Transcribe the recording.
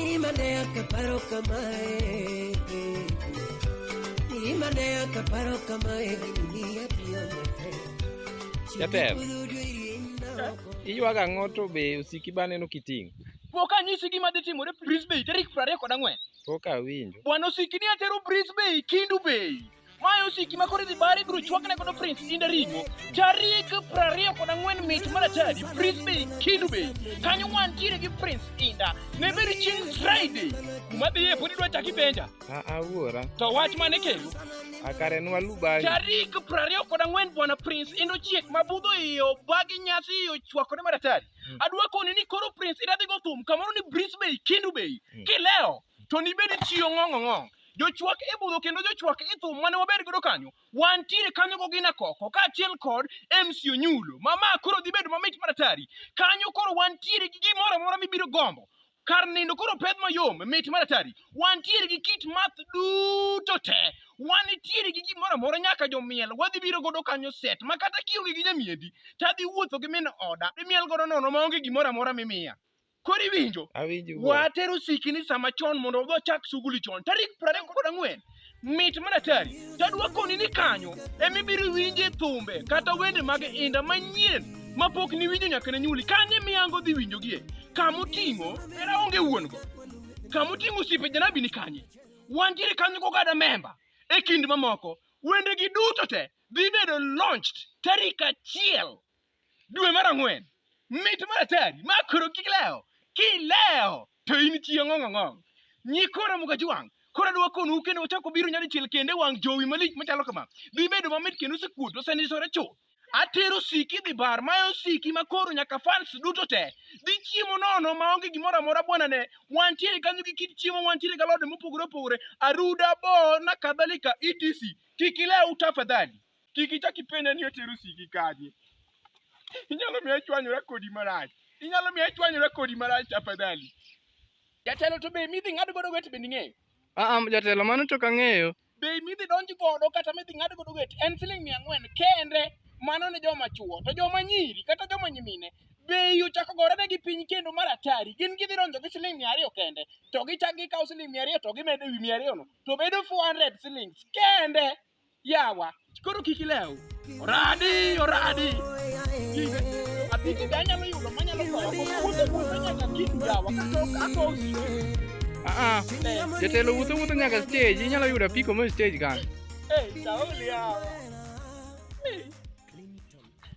Imane akaparo kamae Imane akaparo kamae Dunia pio mate Jatelo. Iywaga ang'o to be osiki ba neno kiting'? Pok anyisi gima dhi timore Brisbane tarik 24. Pok awinjo. Bwana osiki ni atero Brisbane Kindu Bay. Mae osiki ma koro idhi bare ibiro chwakne godo Prince Inda Ringo tarik prariyo kod ang'wen mit mar atadi Brisbane Kindu Bay kanyo wantiere gi Prince Inda ne bedo chieng' Friday kuma dhiye pod idwa chaki benja Aa wuora, to wach mane kendo akare nwalu bari. tarik prariyo kod ang'wen bwana Prince Inda ochiek ma budho iye obagi nyasi iye ochwakore mar atadi adwa koni ni koro Prince Inda dhi go thum kamoro ni Brisbane Kindu Bay kileo to nibed chiyo ng'ong'ong'ong'. Jochwak e budho kendo jochwak e thum mane waber godo kanyo, wantiere kanyo gogina koko, kaachiel kod MC Onyulo. Ma ma koro dhi bedo mamit maratari. Kanyo koro wantiere gi gimoro amora mibiro gombo. Kar nindo koro peth mayom, mit maratari. Wantiere gi kit math duto te. Wanitiere gi gimoro amora nyaka jomiel. Wadhi biro godo kanyo set ma kata kionge gi nyamiendi, tadhi wuotho gi min oda. Imiel godo nono maonge gimoro amora mimiya. Koro iwinjo? Awinjo. Watero sikini sama chon mondo wadhi wachak suguli chon. Tarik 24 mit mar atari to adwakoni ni kanyo ema ibiro winje thumbe kata wende mag inda manyien mapok niwinjo nyaka ne nyuli kanye miyango dhi winjogie kama oting'o era onge wuon-go kama oting'o osiepe janabi ni kanye wantiere kanyo kogada memba e kind mamoko wendegi duto te dhi bedo launched tarik achiel Dwe mar ang'wen, mit mar atari ma koro kik lewo, kilewo to in chieng' ong'ong'ong. Nyikora mukajwang', koro adwa konou kendo wachako biro nyadichiel kendo e wang' jowi malich machalo kama. Dhi bedo mamit kendo osekuot osenisore chuth. Atero osiki dhi bar ma osiki ma koro nyaka fans duto te dhi chiemo nono ma onge gimoro amora bwana ne wantiere kanyo gi kit chiemo wantiere ga lode mopogore opogore aruda bo na kadhalika etc kik ilew tafadhali Kik ichak ipenja ni otero siki kanye. Inyalo miya chwanyora kodi marach. Inyalo miya chwanyora kodi marach tafadhali. Jatelo to be midhi ng'ad godo wet be ning'eyo. Aa, jatelo mano to kang'eyo. Be midhi donj godo kata midhi ng'ad godo wet en siling mia ang'wen kende mano ne joma chuo to joma nyiri kata joma nyimine bei ochako gorene gi piny kendo mar atari gin gidhi donjo gi siling mia ariyo kende to gichak gikawo siling mia ariyo to gimedo e wi mia ariyono to bedo 400 silings kende Yawa, koro kik ilew. Oradi, oradi. Apiki be anyalo yudo manyalo goyo kuonde kuonde nyaka kik yawa kata ako Ah, jatelo wuotho wuotho nyaka stage, inyalo yudo apiko mo stage kan. Eh, sauli yawa.